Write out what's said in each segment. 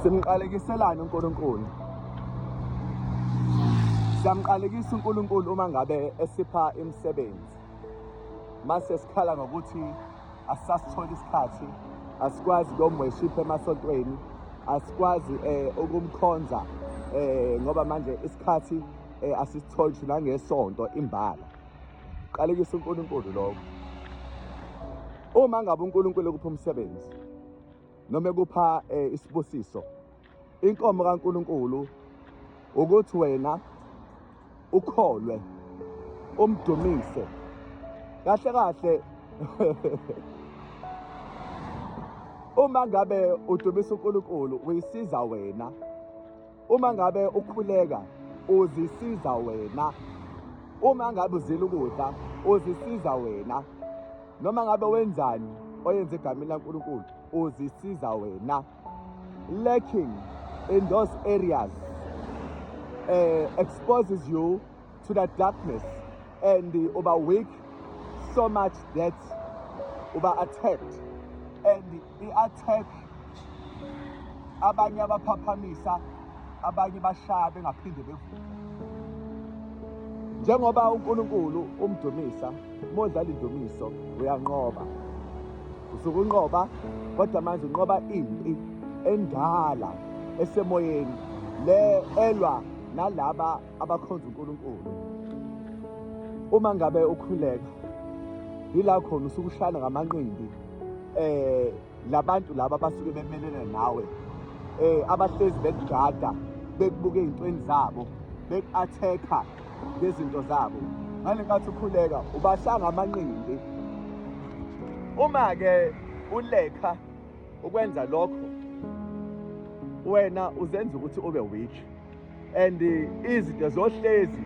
Simqalekiselani uNkulunkulu? Siyamqalekisa uNkulunkulu uma ngabe esipha imisebenzi. Mase sikhala ngokuthi asasitholi isikhathi, asikwazi ukumworship emasontweni, asikwazi eh ukumkhonza eh ngoba manje isikhathi eh asisitholi thina ngesonto imbala. Qalekisa uNkulunkulu lokho. Uma ngabe uNkulunkulu ukupha umsebenzi, noma ekupha eh, isibusiso inkomo kaNkuluNkulu ukuthi wena ukholwe umdumise kahle kahle uma ngabe udumisa uNkulunkulu uyisiza wena Uma ngabe ukhuleka uzisiza wena. Uma ngabe uzila ukudla uzisiza wena. Noma ngabe wenzani oyenza egameni laNkulunkulu uzisiza wena. Lacking in those areas uh, exposes you to the darkness and uba weak so much that uba attacked and i-attack abanye abaphaphamisa abanye bashaya bengaphinde bevuke njengoba uNkulunkulu umdumisa modlala indumiso uyanqoba usuke unqoba kodwa manje unqoba impi endala esemoyeni le elwa nalaba abakhonza uNkulunkulu uma ngabe ukhuleka yila khona usuke ushayana ngamanqindi eh labantu laba basuke bemelene nawe eh abahlezi bekugada bekubuka ezintweni zabo beku-athekha ngezinto zabo ngale nkathi ukhuleka ubashanga amanqindi uma ke ulekha ukwenza lokho wena uzenza ukuthi ube weak and izinto zohlezi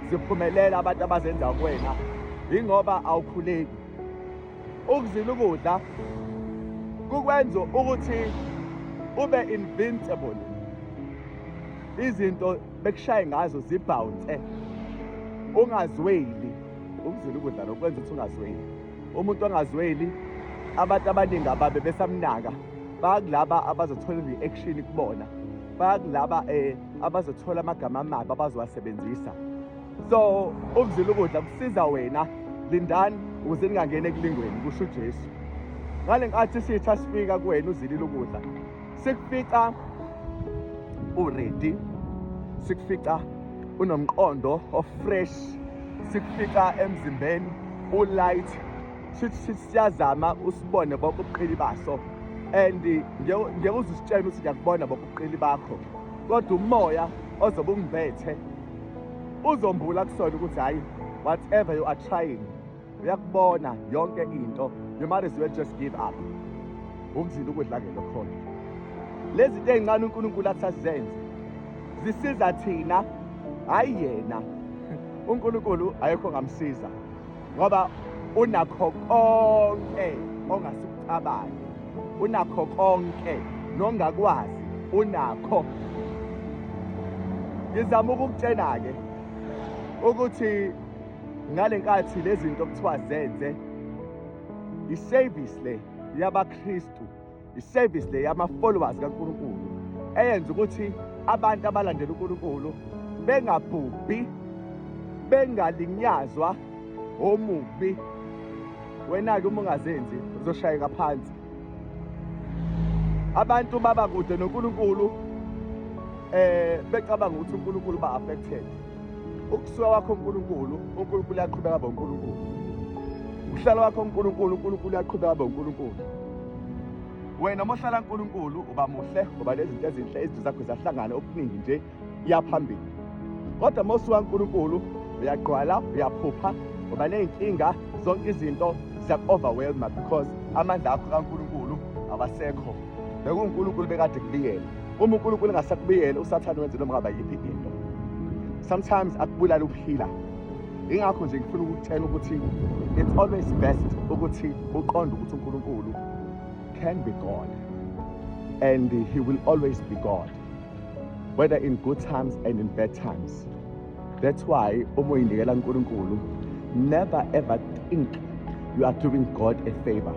ziphumelela abantu abazenza kuwena yingoba awukhuleki ukuzila ukudla kukwenza ukuthi ube invincible izinto bekushaye ngazo zibhawunse ungazweli ukuzila ukudla nokwenza ukuthi ungazweli umuntu ongazweli abantu abaningi ababe besamnaka bakulaba abazothola i-reaction kubona bakulaba um eh, abazothola amagama amabi abazowasebenzisa so ukuzila ukudla kusiza wena lindani ukuze ningangeni ekulingweni kusho ujesu ngale nkathi isitha sifika kuwena uzilile ukudla sikufica uredi sikufica unomqondo ofresh sikufica emzimbeni ulight sithi sithi siyazama usibone bonke ubuqili baso and ngeke uze usitshele ukuthi ngiyakubona bonke ubuqili bakho kodwa umoya ozobe ungibethe uzombula kusona ukuthi hhayi whatever you are trying uyakubona yonke into you might as well just give up ukuzila ukudla ke lokhona lezi zinto ey'ncane unkulunkulu athi asizenze zisiza thina hhayi yena unkulunkulu ayekho ngamsiza ngoba unakho konke ongasikucabangi unakho konke nongakwazi unakho ngizama ukukutshena-ke ukuthi ngale nkathi lezi zinto kuthiwa zenze iservice le yabaKristu Iservice le yama followers kaNkulunkulu eyenza ukuthi abantu abalandela uNkulunkulu bengabhubhi bengalinyazwa omubi wena-ke uma ungazenzi uzoshayeka phansi abantu baba kude noNkulunkulu eh becabanga ukuthi uNkulunkulu ba affected ukusuka wakho uNkulunkulu uNkulunkulu uyaqhubeka abe uNkulunkulu uhlala wakho uNkulunkulu uNkulunkulu uyaqhubeka abe uNkulunkulu wena uma uhlala uNkulunkulu uba muhle ngoba nezinto ezinhle izinto zakho zahlangana okuningi nje iyaphambili kodwa uma usuka uNkulunkulu uyagqwala uyaphupha ngoba ney'nkinga zonke izinto ziyaku-overwhelma because amandla akho kaNkulunkulu awasekho bekuwuNkulunkulu bekade kubiyela uma uNkulunkulu engasakubiyele usathane wenze noma ngaba yiphi into sometimes akubulala ukuphila ingakho nje ngifuna ukutshela ukuthi it's always best ukuthi uqonde ukuthi uNkulunkulu can be God and he will always be God whether in good times and in bad times that's why uma uyinikela uNkulunkulu never ever think you are doing God a favor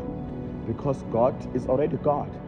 because God is already God